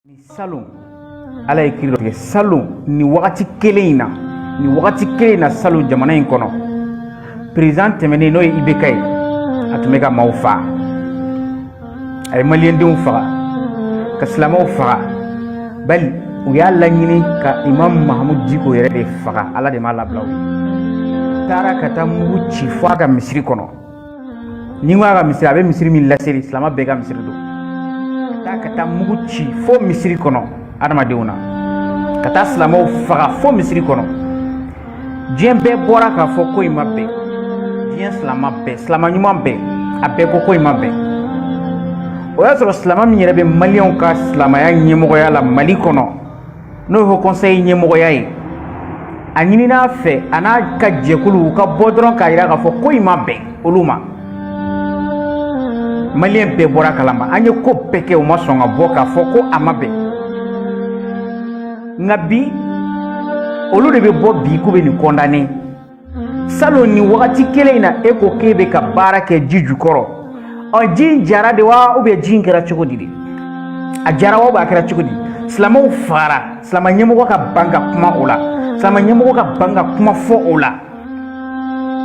ni salon ala ye kiri dɔ tigɛ salon ni wagati kelen in na ni wagati kelen in na salon jamana in kɔnɔ peresidan tɛmɛnen n'o ye ibk ye a tun bɛ ka maaw faga a ye maliyɛndenw faga ka silamɛw faga bali u y'a laɲini ka imam mahamud diko yɛrɛ de faga ala de m'a labila u ye u taara ka taa mugu ci fo a ka misiri kɔnɔ ni n ko a ka misiri a bɛ misiri min laseli silama bɛɛ ka misiri don ka taa ka taa mugu ci fo misiri kɔnɔ adamadenw na ka taa silamaw faga fo misiri kɔnɔ diɲɛ bɛɛ bɔra k'a fɔ ko in ma bɛn diɲɛ silama bɛɛ silama ɲuman bɛɛ a bɛɛ ko ko in ma bɛn o y'a sɔrɔ silama min yɛrɛ bɛ maliyɛnw ka silamaya ɲɛmɔgɔya la mali kɔnɔ n'o ye haut conseil ɲɛmɔgɔya ye a ɲinin'a fɛ a n'a ka jɛkulu u ka bɔ dɔrɔn k'a jira k'a fɔ ko in ma bɛn olu ma maliyɛn bɛɛ bɔra kalama an ye ko bɛɛ kɛ u ma sɔn ka bɔ k'a fɔ ko a ma bɛn nka bi olu de bɛ bɔ bi k'u bɛ nin kɔndane salon ni wagati kelen in na e ko k'e bɛ ka baara kɛ ji jukɔrɔ ɔ ji in jara de wa ou bien ji in kɛra cogo di de a jara wa a kɛra cogo di silamɛw fagara silamɛ ɲɛmɔgɔ ka ban ka kuma o la silamɛ ɲɛmɔgɔ ka ban ka kuma fɔ o la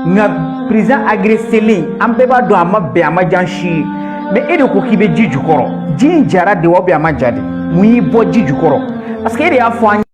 nka peresidan agreselen an bɛɛ b'a dɔn a ma bɛn a ma diya an si ye mais e de ko k'i bɛ ji jukɔrɔ ji in jara de wa ou bien a ma ja de mun y'i bɔ ji jukɔrɔ parce que e de y'a fɔ an ye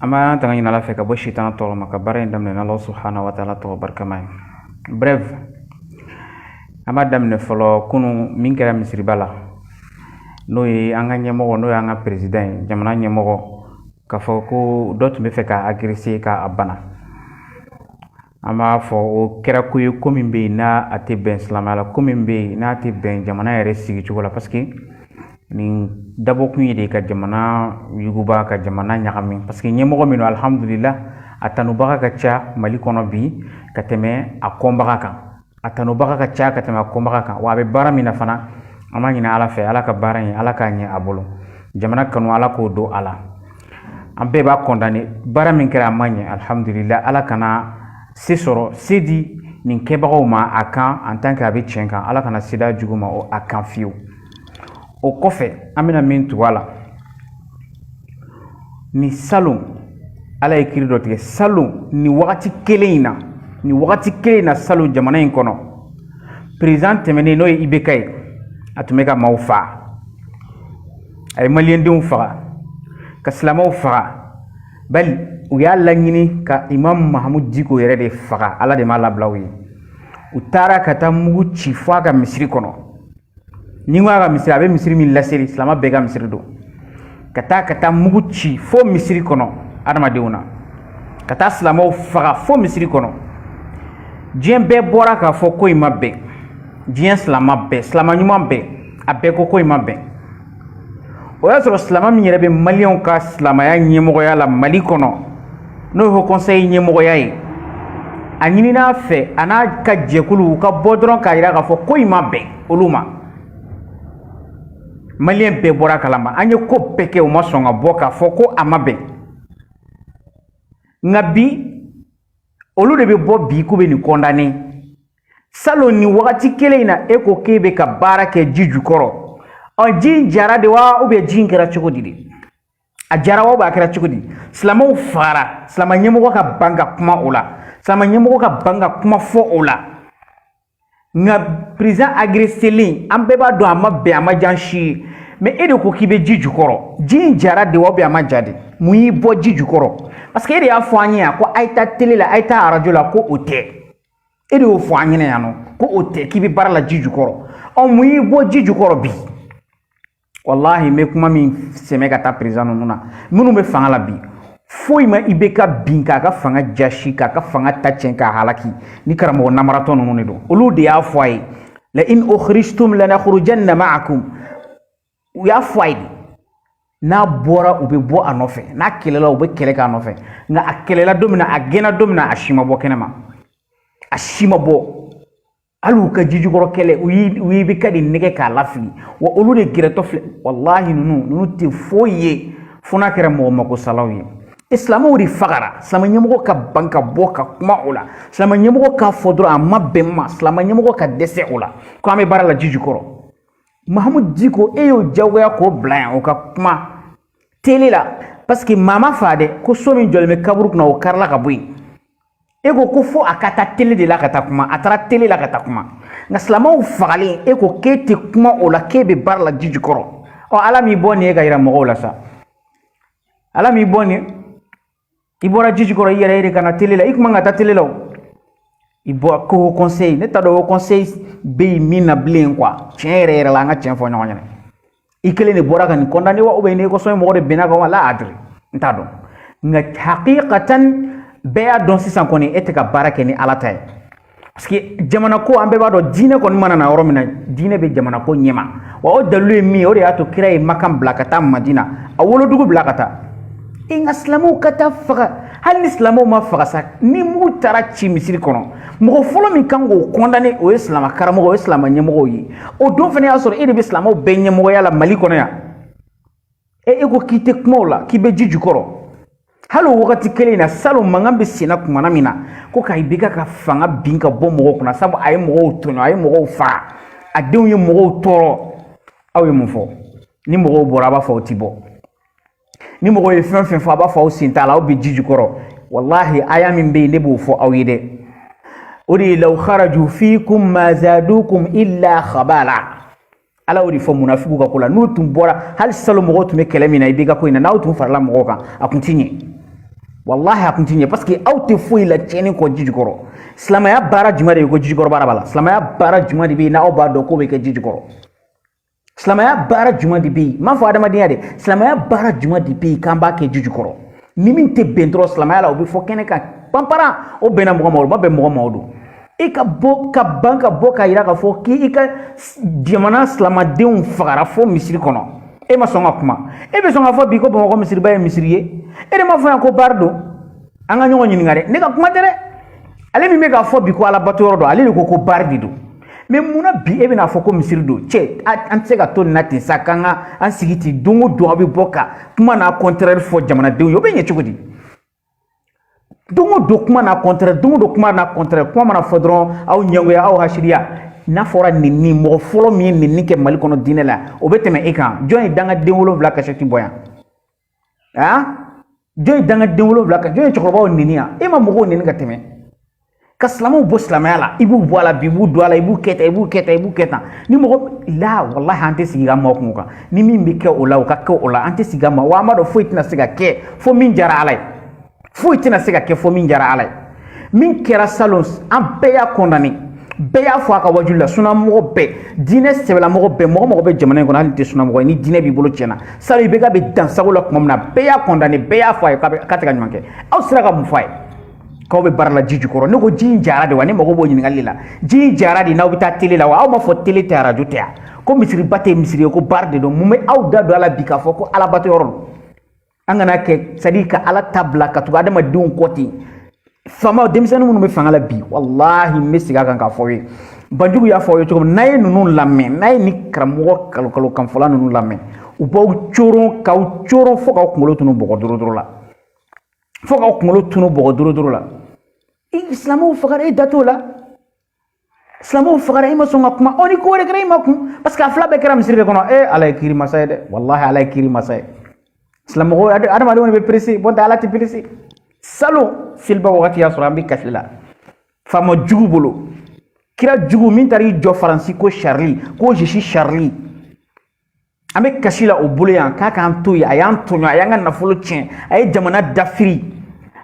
an b'an tanga ɲini ala fɛ ka bɔ sitana tɔɔrɔ ma ka baara in daminɛ n'ala subhanahu wa taala tɔgɔ barikama ye bref an b'a daminɛ fɔlɔ kunu min kɛra misiriba la n'o ye an ka ɲɛmɔgɔ n'o y'an ka peresidan ye jamana ɲɛmɔgɔ k'a fɔ ko dɔ tun bɛ fɛ k'a agrese ka a bana an b'a fɔ o kɛra ko ye ko min bɛ yen n'a tɛ bɛn silamɛya la ko min bɛ yen n'a tɛ bɛn jamana yɛrɛ sigicogo la parce que nin dabɔkun ye de ka jamana yuguba ka jamana ɲagami parce que ɲɛmɔgɔ min don alihamudulila a tanubaga ka ca mali kɔnɔ bi ka tɛmɛ a kɔnbaga kan a tanubaga ka ca ka tɛmɛ a kɔnbaga kan wa a bɛ baara min na fana an b'a ɲini ala fɛ ala ka baara in ala k'a ɲɛ a bolo jamana kanu ala k'o don a la an bɛɛ b'a kɔndane baara min kɛra a ma ɲɛ alihamudulila ala kana se sɔrɔ se di nin kɛbagaw ma a kan en tant que a bɛ tiɲɛ kan ala kana se d'a jugu ma a kan fiyewu o kɔfɛ an bɛna min tugu a la ni salon ala ye kiri dɔ tigɛ salon ni wagati kelen in na ni wagati kelen in na salon jamana in kɔnɔ peresidan tɛmɛnen n'o ye ibeka ye a tun bɛ ka maaw faga a ye maliyɛndenw faga ka silamɛw faga bali u y'a laɲini ka imam mahamud diko yɛrɛ de faga ala de m'a labila u ye u taara ka taa mugu ci fo a ka misiri kɔnɔ n'i ko a ka misiri a bɛ misiri min laseli silama bɛɛ ka misiri don ka taa ka taa mugu ci fo misiri kɔnɔ adamadenw na ka taa silamaw faga fo misiri kɔnɔ diɲɛ bɛɛ bɔra k'a fɔ ko in ma bɛn diɲɛ silama bɛɛ silama ɲuman bɛɛ a bɛɛ ko ko in ma bɛn o y'a sɔrɔ silama min yɛrɛ bɛ maliyɛnw ka silamaya ɲɛmɔgɔya la mali kɔnɔ n'o ye haut conseil ɲɛmɔgɔya ye a ɲinin'a fɛ a n'a ka jɛkulu u ka bɔ dɔrɔn k'a jira k'a fɔ ko in ma bɛn olu ma maliyɛn bɛɛ bɔr'a kalama an ye ko bɛɛ kɛ u ma sɔn ka bɔ k'a fɔ ko a ma bɛn nka bi olu de bɛ bɔ bi k'u bɛ nin condamner salon nin wagati kelen in na e ko k'e bɛ ka baara kɛ ji jukɔrɔ ɔ ji in jara de wa ou bien ji in kɛra cogo di de a jara wa a kɛra cogo di silamɛw fagara silamɛ ɲɛmɔgɔ ka ban ka kuma o la silamɛ ɲɛmɔgɔ ka ban ka kuma fɔ o la nka président agressélen an bɛɛ b'a dɔn a ma bɛn a ma diya an si ye mais e de ko k'i bɛ ji jukɔrɔ ji in jara de wa a ma ja de mun y'i bɔ ji jukɔrɔ parce que e de y'a fɔ an ye yan ko a ye taa tele la a ye taa arajo la ko o tɛ e de y'o fɔ an ɲɛna yan nɔ ko o tɛ k'i bɛ baara la ji jukɔrɔ ɔ mun y'i bɔ ji jukɔrɔ bi walahi n bɛ kuma min sɛmɛ ka taa président ninnu na minnu bɛ fanga la bi foyi ma IBK bin k'a ka fanga jasi k'a ka fanga ta tiɲɛ k'a halaki ni karamɔgɔ namaratɔ ninnu de don olu de y'a fɔ a ye la'in ukhrijtum lanakhrujanna ma'akum u y'a fɔ a ye n'a bɔra u bɛ bɔ a nɔfɛ n'a kɛlɛla u bɛ kɛlɛ k'a nɔfɛ nka a kɛlɛla don min na a gɛnna don min na a si ma bɔ kɛnɛ ma a si ma bɔ hali u ka jijukɔrɔ kɛlɛ u y'i u y'IBK de nɛgɛn k'a lafili wa olu de gɛrɛtɔ filɛ walahi ninnu ninnu tɛ foyi ye fo n'a kɛra mɔgɔ magosalaw ye silamaw de fagara silama ɲɛmɔgɔ ka ban ka bɔ ka kuma o la silama ɲɛmɔgɔ k'a fɔ dɔrɔn a ma bɛn ma silama ɲɛmɔgɔ ka dɛsɛ o la ko an bɛ baara la jijukɔrɔ mahamu diko e y'o jagoya k'o bila yan o ka kuma tele la parce que maa ma faga dɛ ko so min jɔlen bɛ kaburu kunna o karila ka bɔ yen e ko ko fo a ka taa tele de la ka taa kuma a taara tele la ka taa kuma nka silamɛw fagalen e ko k'e tɛ kuma o la k'e bɛ baara la ji jukɔrɔ ɔ ala m'i bɔ nin ye ka yira mɔgɔw la sa ala m'i bɔ nin i bɔra ji jukɔrɔ i yɛrɛ ye de ka na tele la i kuma ka taa tele la o i bɔra ko haut conseil ne t'a dɔn haut conseil bɛ yen min na bilen quoi tiɲɛ yɛrɛ yɛrɛ la an ka tiɲɛ fɔ ɲɔgɔn ɲɛna i kelen de bɔra ka nin condamner wa ou bien ni conseil mɔgɔ de bɛnn'a kan wa la adri n t'a dɔn nka hakikatan bɛɛ y'a dɔn sisan kɔni e tɛ ka baara kɛ ni ala ta ye parce que jamana ko an bɛɛ b'a dɔn diinɛ kɔni mana na yɔrɔ min na diinɛ bɛ jamana ko ɲɛma wa o dalilu ye min ye o de y'a to kira ye makan bila ka taa madina a wolodugu bila ka taa e nka silamɛw ka taa faga hali ni silamɛw ma faga sa ni mugu taara ci misiri kɔnɔ mɔgɔ fɔlɔ min kan k'o condamné o ye silamɛ karamɔgɔw ye silamɛ ɲɛmɔgɔw ye o don fana y'a sɔrɔ e de bɛ silamɛw bɛɛ ɲɛmɔgɔya la mali kɔnɔ yan e e ko k'i tɛ kuma o la k'i bɛ ji jukɔrɔ hali o wagati kelen in na salon mankan bɛ senna kumana min na ko ka IBK ka fanga bin ka bɔ mɔgɔw kunna sabu a ye mɔgɔw tɔɲɔ a ye mɔgɔw faga a denw ye mɔgɔw tɔɔrɔ aw ye mun fɔ ni mɔgɔw bɔra a b'a fɔ aw ti bɔ ni mɔgɔw ye fɛn fɛn fɔ a b'a fɔ aw sen t'a la aw bɛ ji jukɔrɔ walahi aya min bɛ yen ne b'o fɔ aw ye dɛ o de ye law kharaju fiikum ma zadukum illa khabala ala y'o de fɔ munafigiw ka ko la n'u tun bɔra hali salon mɔgɔw tun bɛ kɛlɛ min na IBK ko in na n'aw tun farala mɔgɔw kan a tun ti ɲɛ walahi a tun ti ɲɛ parce que aw tɛ foyi la tiɲɛni kɔ ji jukɔrɔ silamɛya baara jumɛn de ye ko ji jukɔrɔ baara b'a la silamɛya baara jumɛn de bɛ yen n'aw b'a dɔn k'o bɛ kɛ ji jukɔrɔ silamɛya baara jumɛn de bɛ yen n m'a fɔ adamadenya dɛ silamɛya baara jumɛn de bɛ yen k'an b'a kɛ ji jukɔrɔ ni min tɛ bɛn dɔrɔn silamɛya la o bɛ fɔ kɛnɛ kan panparan o bɛnna mɔgɔ ma o ma bɛn mɔgɔ ma o don i ka bɔ ka ban ka bɔ k'a yira k'a fɔ k'i ka jamana silamadenw fagara fo misiri kɔnɔ e ma sɔn ka kuma e bɛ sɔn k'a fɔ bi ko bamakɔ misiriba ye misiri ye e de m'a fɔ yan ko baari don an ka ɲɔgɔn ɲininka dɛ ne ka kuma tɛ dɛ ale min bɛ k'a fɔ bi ko alabato yɔrɔ don ale de ko ko baari de don mais munna bi e bɛna fɔ ko misiri don cɛ an tɛ se ka to nin na ten sa k'an ka an sigi ten don o don aw bɛ bɔ ka kuma n'a contraire fɔ jamanadenw ye o bɛ ɲɛ cogo di don o don kuma n'a contraire don o don kuma n'a contraire kuma mana fɔ dɔrɔn aw ɲɛngoya aw hasiriya n'a fɔra nenini mɔgɔ fɔlɔ min ye nenini kɛ mali kɔnɔ diinɛ la o bɛ tɛmɛ e kan jɔn ye dangaden wolonwula kasɛti bɔ yan a jɔn ye dangaden wolonwula kan jɔn ye cɛkɔrɔbaw neni yan e ma mɔgɔw neni ka tɛmɛ ka silamɛw bɔ silamɛya la i b'u bɔ a la bi i b'u don a la i b'u kɛ tan i b'u kɛ tan i b'u kɛ tan ni mɔgɔ la walahi an tɛ sigi ka makun kan ni min bɛ kɛ o la o ka kɛ o la an tɛ sigi ka ma wa an b'a dɔn foyi tɛna se ka kɛ fo min diyara ala ye foyi tɛna se ka kɛ fo min diyara ala ye min kɛra salon an bɛɛ y'a condamné bɛɛ y'a fɔ a ka wajulu la sunamɔgɔ bɛɛ diinɛ sɛbɛlamɔgɔ bɛɛ mɔgɔ mɔgɔ bɛ jamana in kɔnɔ hali tɛ sunamɔgɔ ye ni diinɛ b'i bolo tiɲɛ na salon IBK bɛ dansagon la tuma min na bɛɛ y'a condamné bɛɛ y'a fɔ a ye k'a tɛ ka ɲuman kɛ aw sera ka mun fɔ a ye k'aw bɛ baara la ji jukɔrɔ ne ko ji in jara de wa ne mago b'o ɲininkali la ji in jara de n'aw bɛ taa tele la wa aw m'a fɔ tele tɛ arajo tɛ yan ko misiriba tɛ misiri ye ko baari de don mun bɛ aw da don a la bi k'a fɔ ko alabato yɔrɔ don an kana kɛ sadi ka ala ta bila ka tugu adamadenw kɔ ten faama denmisɛnnin minnu bɛ fanga la bi walahi n bɛ segin a kan k'a fɔ aw ye banjugu y'a fɔ aw ye cogo min n'a ye ninnu lamɛn n'a ye ni karamɔgɔ nkalon nkalon kanfɔla ninnu lamɛn u b'aw coron k'aw coron fo k'aw kunkolo tunu bɔgɔ dorodoro la fo k'aw kunkolo tunu bɔgɔ dorodoro la i silamɛw fagara e da t'o la silamɛw fagara i ma sɔn ka kuma ɔ ni ko wɛrɛ kɛra i ma kun parce que a fila bɛɛ kɛra misiri de kɔnɔ ee ala ye kiiri masa ye dɛ walahi ala ye kiiri masa ye silamɛmɔgɔw adamadenw de bɛ pressé nɔntɛ ala tɛ pressé salon seliba wagati y'a sɔrɔ an bɛ kasi la faama jugu bolo kira jugu min taara i jɔ faransi ko charlie ko je suis charlie an bɛ kasi la o bolo yan k'a k'an to yen a y'an tɔɲɔ a y'an ka nafolo tiɲɛ a ye jamana dafiri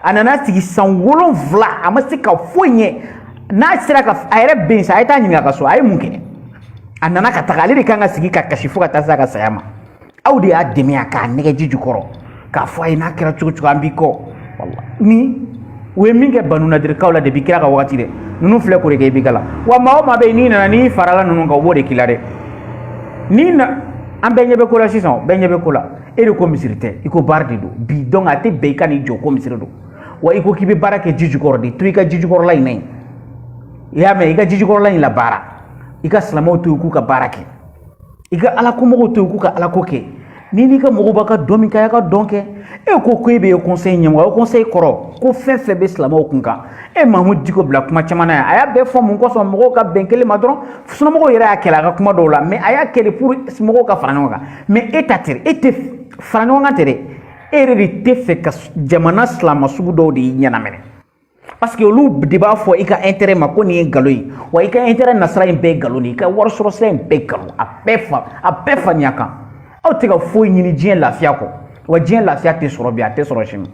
a nana sigi san wolonfila a ma se ka foyi ɲɛ n'a sera ka a yɛrɛ bɛ yen sa a ye taa ɲininka a ka so a ye mun kɛ a nana ka taga ale de kan ka sigi ka kasi fo ka taa se a ka saya ma aw de y'a dɛmɛ yan k'a nɛgɛn ji jukɔrɔ k'a fɔ a ye n'a kɛra cogo cogo an b'i kɔ ni u ye min kɛ banu nadirikaw la depuis kira ka wagati dɛ ninnu filɛ k'o de kɛ i b'i ka la wa maa o maa bɛ yen n'i nana n'i farala ninnu kan u b'o de k'i la dɛ n'i na an bɛɛ ɲɛ bɛ ko la sisan bɛɛ ɲɛ bɛ ko la e de ko misiri tɛ i ko baara de don bi donc a tɛ bɛn i ka n'i jɔ ko misiri don wa i ko k'i bɛ baara kɛ ji jukɔrɔ de to i ka ji jukɔrɔla in na yen i y'a mɛn i ka ji jukɔrɔla in la baara i ka silamɛw to yen k'u ka baara kɛ i ka ala ko mɔgɔw to yen k'u ka ala ko kɛ n'i n'i ka mɔgɔw b'a ka dɔn min kɛ a y'a ka dɔn kɛ e ko ko e bɛ ye conseil ɲɛmɔgɔ haut conseil kɔrɔ ko fɛn fɛn bɛ silamɛw kun kan e mahamudu diko bila kuma caman na yan a y'a bɛɛ fɔ mun kosɔn mɔgɔw ka bɛn kelen ma dɔrɔn sunamɔgɔw yɛrɛ y'a kɛlɛ a ka kuma dɔw la mais a y'a kɛlɛ pour mɔgɔw ka fara ɲɔgɔn kan mais e ta tɛ e tɛ fara ɲɔgɔn kan tɛ dɛ e yɛrɛ de t'a fɛ ka jamana silamɛ sugu dɔw de y'i ɲɛnamini parce que olu de b'a fɔ i ka intérêt ma ko nin ye nkalon ye wa i ka intérêt nasira in bɛɛ ye nkalon de ye i ka wari sɔrɔ sira in bɛɛ nkalon a bɛɛ fa a bɛɛ faniya kan aw tɛ ka foyi ɲini diɲɛ lafiya kɔ wa diɲɛ lafiya tɛ sɔrɔ bi a tɛ sɔrɔ sini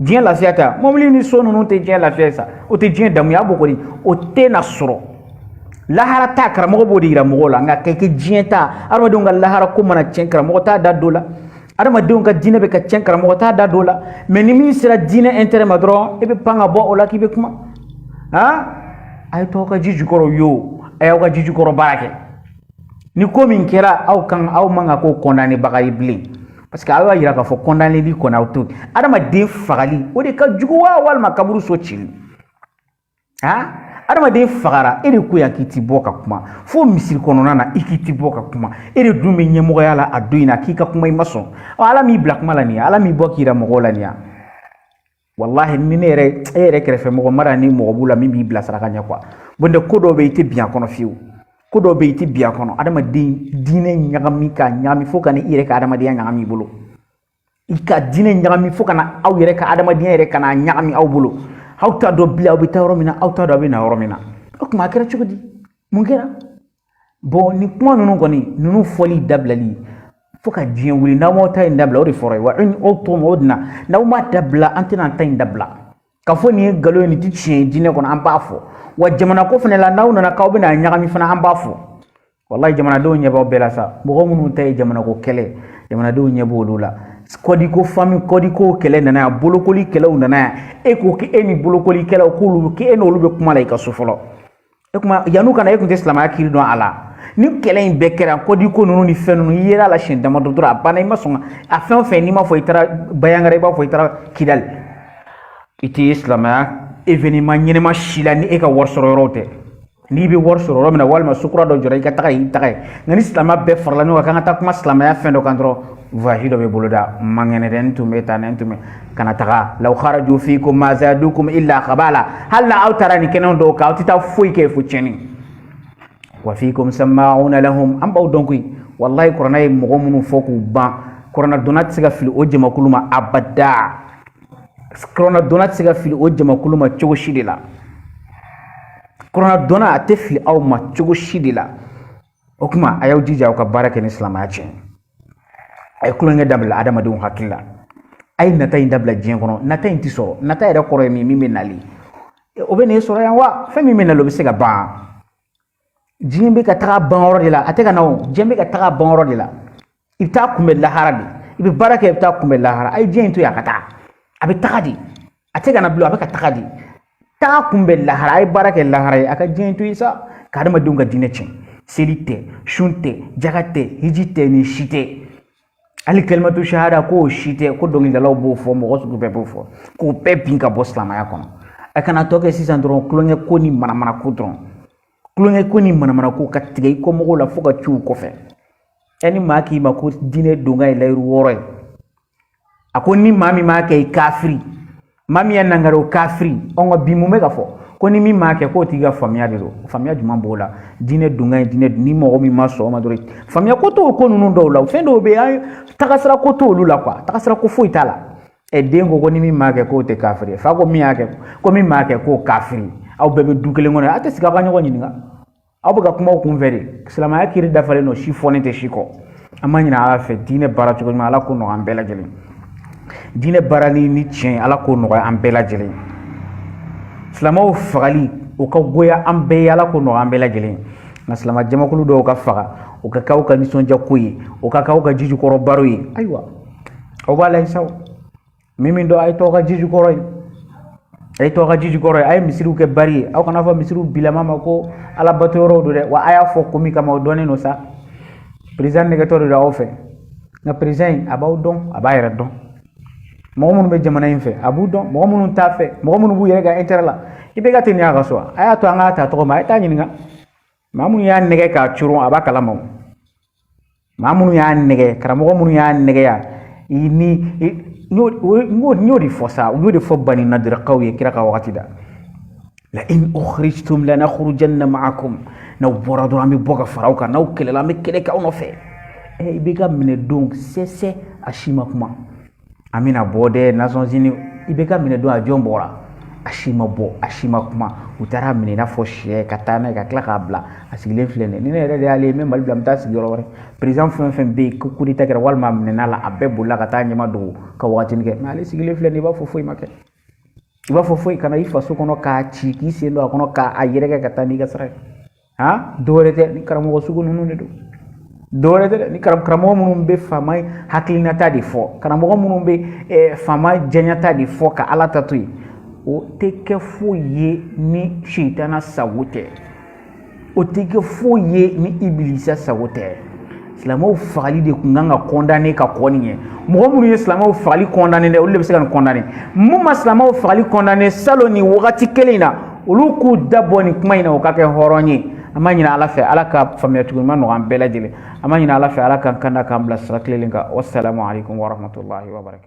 diɲɛ lafiya ta mɔbili ni so ninnu tɛ diɲɛ lafiya ye sa o tɛ diɲɛ damuya bɔ kɔni o tɛ na sɔrɔ lahara ta karamɔgɔ b'o de yira mɔgɔw la nka kɛ kɛ diɲɛ ta adamadenw ka lahara ko mana tiɲɛ karamɔgɔ t'a da don la adamadenw ka diinɛ bɛ ka tiɲɛ karamɔgɔ t'a da don la mais ni min sera diɲɛ intérêt ma dɔrɔn e bɛ pan ka bɔ o la k'i bɛ kuma han a ye to aw ka ji jukɔrɔ yo a y'aw ka ji jukɔrɔ baara kɛ ni ko min kɛra aw kan aw man kan k'o condamné baga ye bilen parce que aw y'a yira k'a fɔ condamné li kɔni aw t'o adamaden fagali o de ka jugu wa walima kaburu so cili ha adamaden fagara e de ko yan k'i ti bɔ ka kuma fo misiri kɔnɔna na i k'i ti bɔ ka kuma e de dun bɛ ɲɛmɔgɔya la a don in na k'i ka kuma i ma sɔn ɔ ala m'i bila kuma la nin ye ala m'i bɔ k'i yira mɔgɔw la nin ye walahi ni ne yɛrɛ e yɛrɛ kɛrɛfɛ mɔgɔ mara ni mɔgɔ b'u la min b'i bilasira ka ɲɛ quoi nɔntɛ ko dɔw bɛ i tɛ bin a kɔnɔ fiyewu ko dɔw bɛ i tɛ bin a kɔnɔ adamaden diinɛ ɲagami k'a ɲagami fo ka na i yɛrɛ ka adamadenya ɲagami i bolo i ka diinɛ ɲagami fo ka na aw yɛrɛ ka adamadenya yɛrɛ ka na ɲagami aw bolo aw t'a dɔn bilen aw bɛ taa yɔrɔ min na aw t'a dɔn aw bɛ na yɔrɔ min na o tuma a kɛra cogo di mun kɛra bon nin kuma ninnu kɔni ninnu fɔli dabilali fo ka diɲɛ wuli n'aw m'aw ta in dabila o de fɔra ye wa aw to o de na n'aw m'a dabila an tɛna an ta in dabila ka fɔ nin ye nkalon ye nin ti tiɲɛ ye diinɛ kɔnɔ an b'a fɔ wa jamana ko fana la n'aw nana k'aw bɛna a ɲagami fana an b'a fɔ walayi jamanadenw ɲɛ b'aw bɛɛ la sa mɔgɔ minnu ta ye jamanako kɛlɛ jamanadenw ɲɛ b'olu la kɔdiko fami kɔdiko kɛlɛ nana yan bolokoli kɛlɛw nana yan e ko k'e ni bolokoli kɛlɛw k'olu k'e n'olu bɛ kuma la i ka so fɔlɔ e kuma yan'u ka na e kun tɛ silamɛya kiri dɔn a la ni kɛlɛ in bɛɛ kɛra kɔdi ko ninnu ni fɛn ninnu i yera la siɲɛ damadɔ dɔrɔn a banna i ma sɔn a fɛn o fɛn n'i m'a fɔ i taara banjagara i b'a fɔ i taara kidali i tɛ silamɛya événement ɲɛnɛma si la ni e ka wari sɔrɔ yɔrɔw tɛ n'i bɛ wari sɔrɔ yɔrɔ min na walima sukura dɔ jɔra i ka taga y'i taga ye nka ni silamɛya bɛɛ farala ɲɔgɔn kan k'an ka taa kuma silamɛya fɛn dɔ kan dɔrɔn voyage dɔ bɛ boloda man kɛnɛ dɛ n tun bɛ taa n tun bɛ ka na taga law kharaju fiikum ma zadukum illa khabala hali na aw taara nin kɛnɛw dɔw kan aw tɛ taa foyi kɛ fo tiɲɛni wa fiikum sama'una lahum an b'aw dɔn koyi walayi kuranɛ ye mɔgɔ minnu fɔ k'u ban kuranɛ dɔnna tɛ se ka fili o jamakulu ma abada kuranɛ dɔnna tɛ se ka fili o jamakulu ma cogo si de la kuranɛ dɔnna a tɛ fili aw ma cogo si de la o kuma a y'aw jija aw ka baara kɛ ni silamaya tiɲɛ a ye kulonkɛ dabila adamadenw hakili la a ye nata in dabila diɲɛ kɔnɔ nata in ti sɔrɔ nata yɛrɛ kɔrɔ ye min min bɛ nali o bɛ n'e sɔrɔ yan wa fɛn min bɛ nali o bɛ se ka ban diɲɛ bɛ ka taga ban yɔrɔ de la a tɛ ka na o diɲɛ bɛ ka taga ban yɔrɔ de la i bɛ taa kunbɛ lahara de i bɛ baara kɛ i bɛ taa kunbɛ lahara a ye diɲɛ in to yen a ka taa a bɛ taga de a tɛ ka na bilen a bɛ ka taga de taa kunbɛ lahara a ye baara kɛ lahara ye a ka diɲɛ in to yen sa ka adamadenw ka diinɛ tiɲɛ seli tɛ sun tɛ jaga tɛ hiji tɛ nin si tɛ hali kalimatu shahada k'o si tɛ ko dɔnkilidalaw b'o fɔ mɔgɔ sugu bɛɛ b'o fɔ k'o bɛɛ bin ka bɔ silamɛya kɔnɔ a ka na tɔ kɛ sisan dɔrɔn kulonkɛ ko ni manamana ko dɔrɔn kulonkɛ ko ni manamana ko ka tigɛ i kɔmɔgɔw la fo ka ci u kɔfɛ ɛ ni maa k'i ma ko diinɛ donkan ye layiru wɔɔrɔ ye a ko ni maa min m'a kɛ i kafiri maa min y'a nangari o kafiri ɔn ka bi mun bɛ ka fɔ ko ni min m'a kɛ k'o tigi ka faamuya de don faamuya jumɛn b'o la diinɛ donkan ye diinɛ ni mɔgɔ min ma sɔn o ma dɔrɔn faamuya ko t'o ko ninnu dɔw la fɛn dɔw bɛ yen tagasira ko t'olu la quoi tagasira ko foyi t'a la ɛ den ko ko ni min m'a kɛ k'o tɛ kafiri fa ko min y'a kɛ ko min m'a kɛ k'o kafiri aw bɛɛ bɛ du kelen kɔnɔ aw tɛ sigi aw ka ɲɔgɔn ɲininka aw bɛ ka kuma aw kunfɛ de silamɛya kiri dafalen don si fɔlen tɛ si kɔ an b'a ɲini ala fɛ diinɛ baara cogo ɲuman ala k'o nɔgɔya an bɛɛ lajɛlen diinɛ baarali ni tiɲɛ ala k'o nɔgɔya an bɛɛ lajɛlen silamɛw fagali o ka goya an bɛɛ ye ala k'o nɔgɔya an bɛɛ lajɛlen nka silamɛ jamakulu dɔw ka faga o ka kɛ aw ka nisɔndiya ko ye o ka kɛ aw ka jijukɔrɔ baro ye ayiwa aw b'a la sa min min don a ye t'aw ka ji jukɔrɔ ye a ye t'aw ka ji jukɔrɔ ye a ye misiriw kɛ bari ye aw kana fɔ misiriw bilama ma ko ala bato yɔrɔw don dɛ wa a y'a fɔ ko min kama o dɔnnen don sa perezan nɛgɛtɔ de don aw fɛ nka perezan in a b'aw dɔn a b'a yɛrɛ dɔn mɔgɔ minnu bɛ jamana in fɛ a b'u dɔn mɔgɔ minnu t'a fɛ mɔgɔ minnu b'u yɛrɛ ka intɛrɛ la i bɛ ka tɛ nin y'a ka so a y'a to an k'a ta tɔgɔ ma a ye t'a ɲininka maa minnu y'a nɛgɛ k'a coron a b'a kalama o maa minnu y'a nɛgɛ karamɔgɔ minnu y'a nɛgɛ ya i ni n y'o de fɔ sa n y'o de fɔ bani nadirakaw ye kira ka wagati da la'in ukhrijtum lanakhrujanna ma'akum n'aw bɔra dɔrɔn an bɛ bɔ ka fara aw kan n'aw kɛlɛla an bɛ kɛlɛ kɛ aw nɔfɛ i bɛ ka minɛ don sɛsɛ a si ma kuma an bɛna bɔ dɛ nasɔnsini i bɛ ka minɛ don a jɔn bɔra a si ma bɔ a si ma kuma u taar'a minɛ i n'a fɔ syɛ ka taa n'a ye ka tila k'a bila a sigilen filɛ nin ye ni ne yɛrɛ de y'ale ye n bɛ mali bila n bɛ taa sigi yɔrɔ wɛrɛ perezan fɛn fɛn bɛ yen ko kudeta kɛra walima a minɛna la a bɛɛ bolila ka taa ɲɛmadogo ka wagatini kɛ mɛ ale sigilen filɛ nin i b'a fɔ foyi ma kɛ i b'a fɔ foyi ka na i faso kɔnɔ k'a ci k'i sen don a kɔnɔ k'a yɛrɛkɛ ka taa n'i ka sira ye ha dɔwɛrɛ tɛ ni karamɔgɔ sugu ninnu de don dɔwɛrɛ tɛ ni karamɔgɔ minnu bɛ faama hakilinata de fɔ karamɔgɔ minnu bɛ eh, faama jɛɲata de fɔ ka ala ta to yen o tɛ kɛ foyi ye ni sitana sago tɛ o tɛ kɛ foyi ye ni ibilisa sago tɛ silamɛw fagali de kun kan ka kɔndane ka kɔn nin ɲɛ mɔgɔ minnu ye silamɛw fagali kɔndane dɛ olu de bɛ se ka nin kɔndane minnu ma silamɛw fagali kɔndane salon nin wagati kelen in na olu k'u da bɔ nin kuma in na o ka kɛ hɔrɔn ye an b'a ɲini ala fɛ ala ka faamuyacogo ɲuman nɔgɔ an bɛɛ lajɛlen an b'a ɲini ala fɛ ala k'an kanda k'an bila sira tilennen kan wasalamu aleykum warahmatulahi wabarakatu